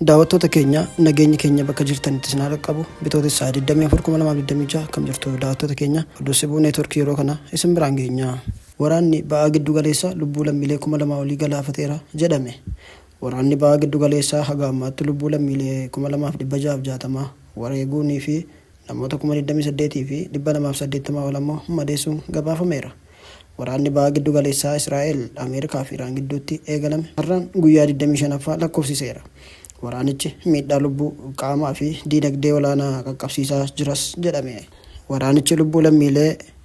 Daawwattoota keenya nageenyi keenya bakka jirtanitti isin haa qaqqabu bitootessa 24,2026 kam jirtu daawwattoota keenya oduu sibuu neetworkii yeroo kana isin biraan geenya. Waraanni ba'aa giddu galeessaa lubbuu lammiilee 2,000 olii galaafateera jedhame. Waraanni ba'aa giddu galeessaa haga ammaatti lubbuu lammiilee 2,660 wareeguunii fi namoota 28,280 ol ammoo madeessuun gabaafameera. Waraanni Baha Giddu Galeessaa Israa'el, Ameerikaa fi Iraan gidduutti eegalame har'aan guyyaa 25ffaa lakkoofsiseera. Waraanichi miidhaa lubbuu, qaamaa fi diinagdee olaanaa qaqqabsiisaa jiras jedhame. Waraanichi lubbuu lammiilee.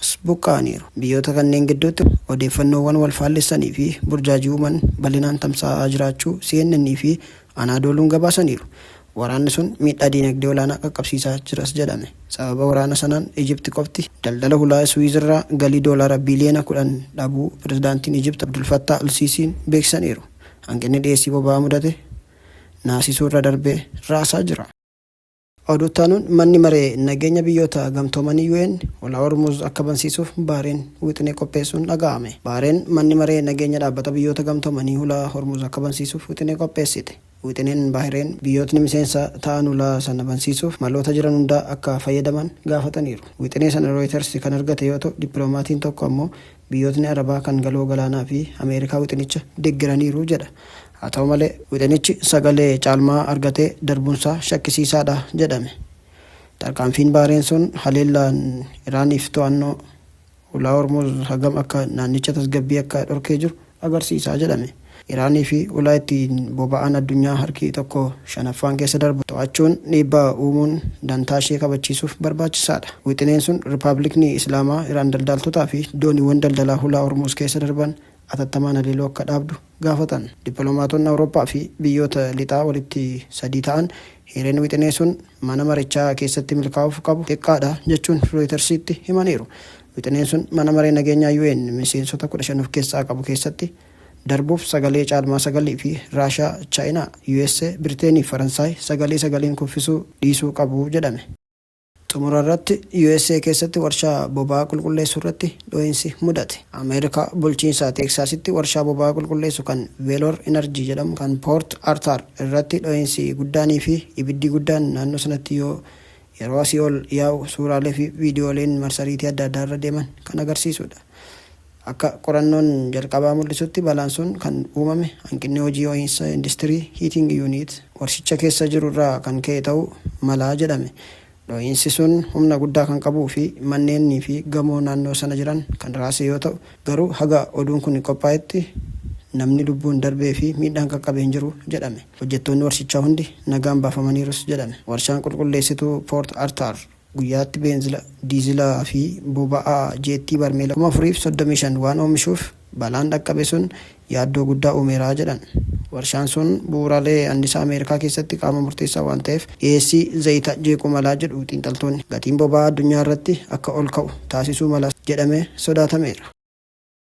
As buqqa'aniiru. Biyyoota kanneen gidduutti odeeffannoowwan wal faallessanii fi burjaajii uuman bal'inaan tamsaa'aa jiraachuu CNN fi Anaadooluun gabaasaniiru. Waraanni sun miidhaa diinagdee olaanaa qaqqabsiisaa jiras jedhame. Sababa waraana sanaan Ijipti qofti daldala hulaa Suwiiz irraa galii doolaara biiliyoona 10 dhabuu Pirezidaantiin Ijipti Abdul Fattaah al-Siisiin beeksisaniiru. Hanqinni dhiyeessii boba'aa mudate naasisuu irra darbee raasaa jira. Oduu itti aanuun Manni Maree Nageenya Biyyoota Gamtoomanii, UN, Ulaa Hormuuz akka bansiisuuf Baareen wixinee qopheessuun dhaga'ame. Baareen Manni Maree Nageenya Dhaabbata Biyyoota Gamtoomanii Ulaa Hormuuz akka bansiisuuf wixinee qopheessite. Wixineen Baahireen biyyootni miseensa ta'an ulaa sana bansiisuuf maloota jiran hundaa akka fayyadaman gaafataniiru. Wixinee sana Rooyitarsi kan argate yoo ta'u, dippiloomaatiin tokko ammoo Biyyootni Arabaa kan Galoo Galaanaa fi Ameerikaa wixinicha deggeraniiru jedha. Haa ta'u malee, wixinichi sagalee caalmaa argatee darbuunsaa shakkisiisaadha jedhame. Tarkaanfiin Baareen sun haleellaan Iraaniif to'annoo Hulaa Hormuuz hagam akka naannicha tasgabbii akka dhorkee jiru agarsiisa jedhame. Iraanii fi ulaa ittiin boba'aan addunyaa harki tokko shanaffaan keessa darbu to'achuun dhiibbaa uumuun dantaashee kabachiisuuf barbaachisaadha. Wixineen sun Rippablikni Islaamaa Iraan daldaaltotaa fi dooniiwwan daldalaa Hulaa Hormuuz keessa darban atattamaan haleeluu akka dhaabdu gaafatan. Dippiloomaatonni Awurooppaa fi biyyoota Lixaa walitti sadii ta'an hireen wixinee sun mana marichaa keessatti milkaa'uuf qabu xiqqaadha jechuun Rooyitarsiitti himaniiru. Wixineen sun Mana Maree Nageenyaa UN miseensota 15 of keessaa qabu keessatti darbuuf sagalee caalmaa 9 fi Raashaa, Chaayinaa, USA, Biriteenii fi Faransaay sagalee sagaliin kuffisuu dhiisuu qabu jedhame. Xumura irratti USA keessatti warshaa boba'aa qulqulleessu irratti dho'insi mudate. Ameerikaa bulchiinsa Teeksaasitti warshaa boba'aa qulqulleessu kan Veloor Inarjii jedhamu kan Poort Artaar irratti dho'insi guddaanii fi ibiddi guddaan naannoo sanatti yoo Yeroo asii ol yaa'u suuraalee fi viidiyooleen marsariitii adda addaa irra deeman kan agarsiisu dha. Akka qorannoon jalqabaa mul'isutti balaan sun kan uumame hanqinni hojii ho'iinsa industirii, heating unit, warshicha keessa jiru irraa kan ka'e ta'uu mala jedhame. Dhohiinsi sun humna guddaa kan qabuu fi manneennii fi gamoo naannoo sana jiran kan raase yoo ta'u, garuu haga oduun kun qophaa'etti namni lubbuun darbee fi miidhaan qaqqabe hin jiru jedhame. Hojjettoonni warshichaa hundi nagaan baafamaniirus jedhan. Warshaan qulqulleessituu Poort Artaar guyyaatti beenzila, diizila fi boba'aa jeettii barmeela 4,035 waan oomishuuf balaan dhaqqabe sun yaaddoo guddaa uumeera jedhan. Warshaan sun bu'uuraalee annisaa Ameerikaa keessatti qaama murteessaa waan ta'eef dhiyeessii zayita jeequu mala jedhu xiinxaltoonni. Gatiin boba'aa addunyaa irratti akka ol ka'u taasisuu malas jedhamee sodaatameera.